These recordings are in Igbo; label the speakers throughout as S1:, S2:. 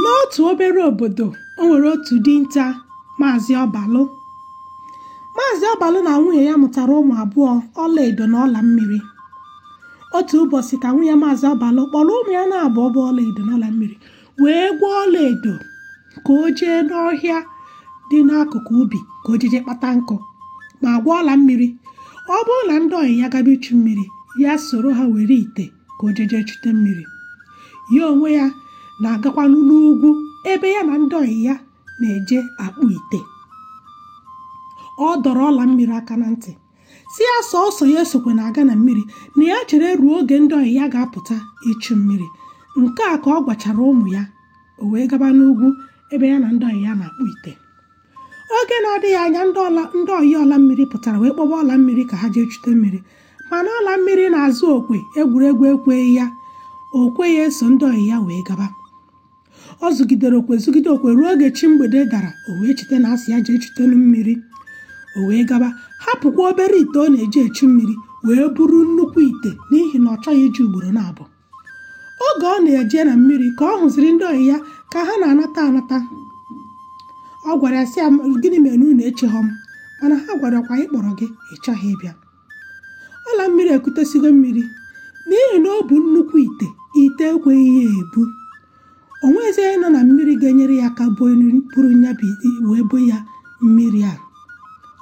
S1: n'otu obere obodo o nwere otu dinta maazị ọbalụ maazị ọbalụ na nwunye ya mụtara ụmụ abụọ ọlaedo na ọla mmiri otu ụbọchị ka nwunye maazị ọbalụ kpọrọ ụmụ ya n'abụọ bụ ọlaedo na ọla mmiri wee gwa ọlaedo ka o jee n'ọhịa dị n'akụkụ ubi ka o jeje kpata nkụ ma gwa ọla mmiri ọ bụrụ na ndị ọyị ya gaba ichu mmiri ya soro ha were ite ka o jeje chute mmiri ya onwe ya na-agakwanụ n'ugwu ebe ya na ndị ọyị ya na-eje akpụ ite ọ dọrọ ọla mmiri aka na ntị sị ya sọsọ ya esokwana aga na mmiri na ya chere ruo oge ndị ọyị ya ga-apụta ichu mmiri nke a ka ọ gwachara ụmụ ya o wee gaba n'ugwu ebe ya na ndị ọyị ya na-akpụ ite oge na-adịghị anya ndị ọyị ọla mmiri pụtara wee kpọba ọla mmiri ka ha jee chute mmiri mana ọla mmiri na-azụ okwe egwuregwu ekweghị ya o kwe ya eso ndị ọyị ya wee gaba ọ zụgidere okwe zụgide okwe ruo oge chi mgbede dara o wee cheta na a sị ya jee chutenu mmiri o wee gaba hapụkwa obere ite ọ na-eji echu mmiri wee buru nnukwu ite n'ihi na ọ chọghị ije ugboro n'abụọ oge ọ na-eje na mmiri ka ọ hụziri ndị ọyị ya ka ha na-anata anata ọ gwara ha sị ha gịnị mere na unu echeghọ m mana ha gwarakwa anyị kpọrọ gị ị chọghị ịbịa ọla mmiri ekutesigo mmiri n'ihi na ọ bụ nnukwu ite ite ekweghị ya ebu o nwezi onye nọ na mmiri ga-enyere ya aka buru ya wee bo ya mmiri a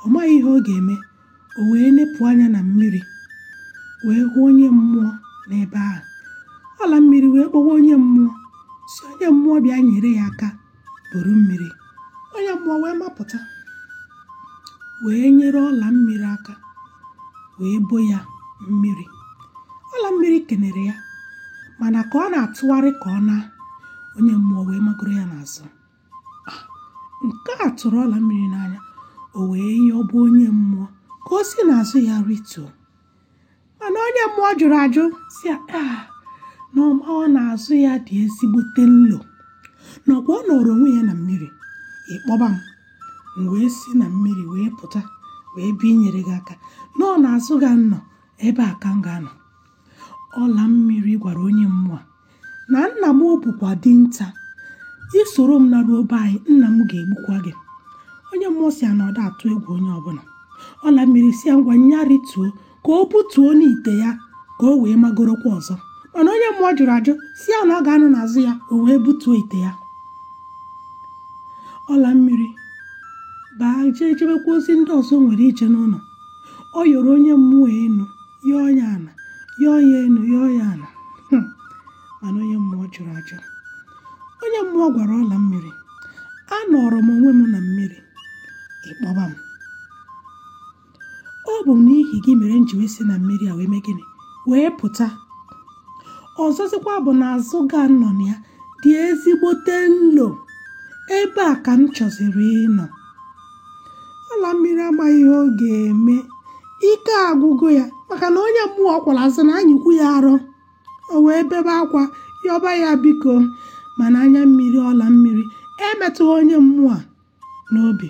S1: ọ maghị ihe ọ ga-eme o wee nepụ anya na mmiri wee hụ onye mmụọ n'ebe ahụ ọla mmiri wee kpọwa onye mmụọ sị onye mmụọ bịa nyere ya aka buru mmiri onye mmụọ wee mapụta wee nyere ọla mmiri aka wee bo ya mmiri ọla mmiri kenere ya mana ka ọ na-atụgharị ka ọ naa onye mmụọ wee magoro ya n'azụ ah, nke a tụrụ ọla mmiri n'anya o wee yọba onye mmụọ ka o si n'azụ ya rịtuo mana onye mmụọ jụrụ ajụ sị ya ah, na ọ ma ọ na azụ ya dị ezigbote nlo na ọ kwa ọ nọrọ onwe ya na mmiri ị kpọba m m wee si na mmiri wee pụta wee bịa inyere gị aka na ọ n'azụ gị a m nọ ebe a ka m ga-anọ ọla mmiri gwara onye mmụọ na nna m ọ bụkwa dinta i soro m naruo be anyị nna m ga-egbukwa gị onye mmụọ sị ya na ọ da atụ egwu onye ọbụna ọla mmiri sị ya ngwa nya rituo ka o butuonụ ite ya ka o wee magorokwa ọzọ mana onye mmụọ jụrụ ajụ sị ya na ọ ga-anọ n'azụ ya o wee butuo ite ya ọla mmiri baa jee jebekwa ozi ndị ọzọ o nwere ije n'ụnọ ọ yọrọ onye mmụọ enu yọọ ya ana yọọ ya enu yọọ ya ana Hmm. mana onye mmụọ jụrụ ajụ onye mmụọ gwara ọla mmiri anọrọ m onwe m na mmiri ị kpọba m ọ bụ n'ihi gị mere m ji wee si na mmiri a wee mee gịnị wee pụta ọzọzikwa bụ na azụ gị a m nọ na ya dị ezigbote nlo ebe a ka m chọziri ịnọ ọla mmiri amaghị ihe ọ ga-eme ike agwụgo ya maka na onye mmụọ ọ kwọrọ azụ na-anyịkwu ya arọ o wee bebe akwa yọba ya biko mana anya mmiri ọla mmiri emetụghị onye mmụọ a n'obi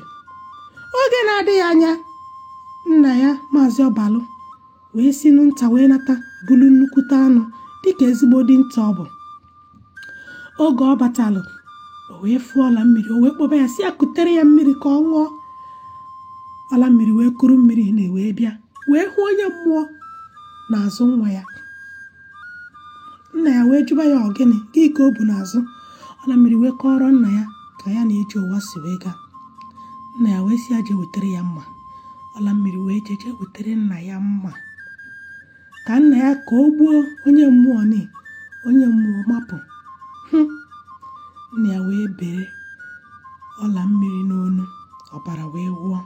S1: oge na-adịghị anya nna ya maazị ọbalụ wee sinụ nta wee nata bulu nnukwute anụ dịka ezigbo dinta ọ bụ oge ọ batalụ o wee fụọ ọla mmiri o wee kpọba ya sị ya kutere ya mmiri ka ọ ṅụọ ọla mmiri wee kuru mmiri nna wee bịa wee hụ onye mmụọ n'azụ nwa ya nna ya wee jụba ya ọ gịnị gị ka o bu n'azụ ọla mmiri wee kọọrọ nna ya ka ya na ije ụwa si wee gaa nna ya wee sị ya jee wetara ya mma ọla mmiri wee jeje wetara nna ya mma ka nna ya ka o gbuo onye mmụọ ni onye mmụọ mapụ hmm. nna ya wee bere ọla mmiri n'onu ọbara wee wụọ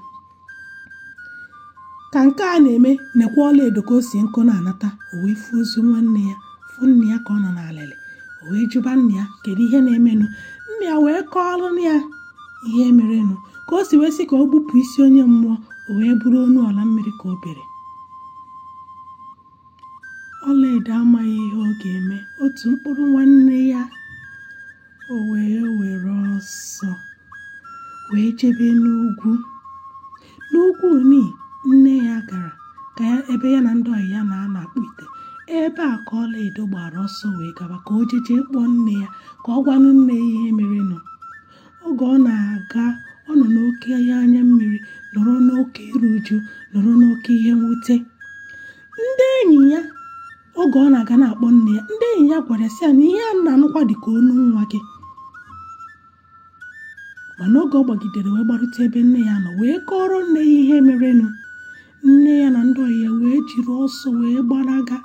S1: ka nke a na-eme nekwa ọla edo ka o si nkụ na-anata o wee fụ ozu nwanne ya fụ nna ya ka ọ nọ n'alịlị o wee jụba nna ya kedu ihe na-emenụ nna ya wee kọọrọ ya ihe merenụ ka o si wee sị ka o gbupụ isi onye mmụọ o wee bụrụ onu ọla mmiri ka o bere ọlaedo amaghị ihe ọ ga-eme otu mkpụrụ nwanne ya o wee were ọsọ wee jebe n'ugwu N'okwu Oni, nne ya gara ka ya ebe ya na ndị ọyị ya na-anọ akpụ ite. Ebe a ka Ọlaedo gbara ọsọ wee gaba ka o jeje kpọọ nne ya ka ọ gwanụ nne ya ihe merenụ. Oge ọ na-aga, ọ nọ n'oke ihe anya mmiri, nọrọ n'oke iru uju, nọrọ n'oke ihe mwute. Ndị enyi ya oge ọ na-aga na-akpọ nne ya, ndị enyi ya gwara ya sị ya na ihe a na-anụkwa dị ka onu nwa gị. mana oge ọ gbagidere wee gbarute ebe nne ya nọ wee kọrọ nne ya ihe merenụ nne ya na ndị ọyị ya wee jiri ọsọ wee gbalaga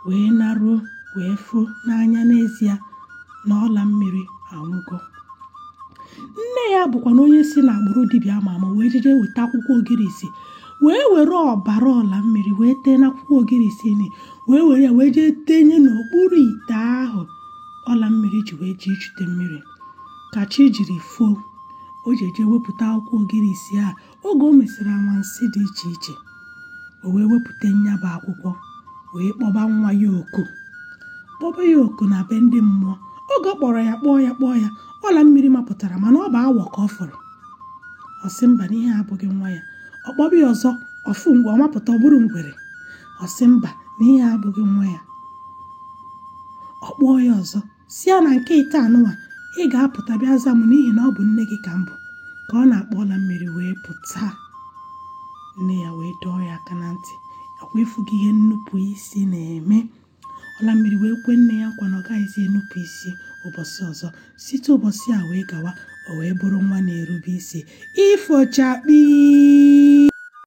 S1: wee naruo wee fụ n'anya n'ezie na ọla mmiri anwụgo nne ya bụkwanụ onye si n'agbụrụ dibịa ama ama wee jeje weta akwụkwọ ogirisi wee were ọbara ọla mmiri wee tee n'akwụkwọ ogirisi ni wee were ya wee jee tenye n'okpuru ite ahụ ọla mmiri ji wee jee ichute mmiri ka chi jiri foo o jeje wepụta akwụkwọ ogirisi a oge o mesịrị anwansị dị iche iche o wee wepụta nya bụ akwụkwọ wee kpọba nwa ya oku kpọba ya oku na be ndị mmụọ oge ọ kpọrọ ya kpọọ ya kpọọ ya ọla mmiri mapụtara mana ọ bụ awọ ka ọ fụrụ ọ sị mba na ihe a abụghị nwa ya ọ kpọba ya ọzọ ọ fụ mgbe ọ mapụta ọ bụrụ ngwere ọ sị mba na ihe a abụghị nwa ya ọ kpọọ ya ọzọ sị ya na nke ịtọ anụnwa ị ga-apụta bịa za m n'ihi na ọ bụ nne gị ka m bụ ka ọ na-akpọ ọla mmiri wee pụta nne ya wee dọọ ya aka na ntị ọ kwa ị fụgo ihe nnupụ isi na-eme ọla mmiri wee kwe nne ya nkwa na ọ gaghịzi enupụ isi ụbọchị ọzọ site ụbọchị a wee gawa o wee bụrụ nwa na-erube isi ifochakpi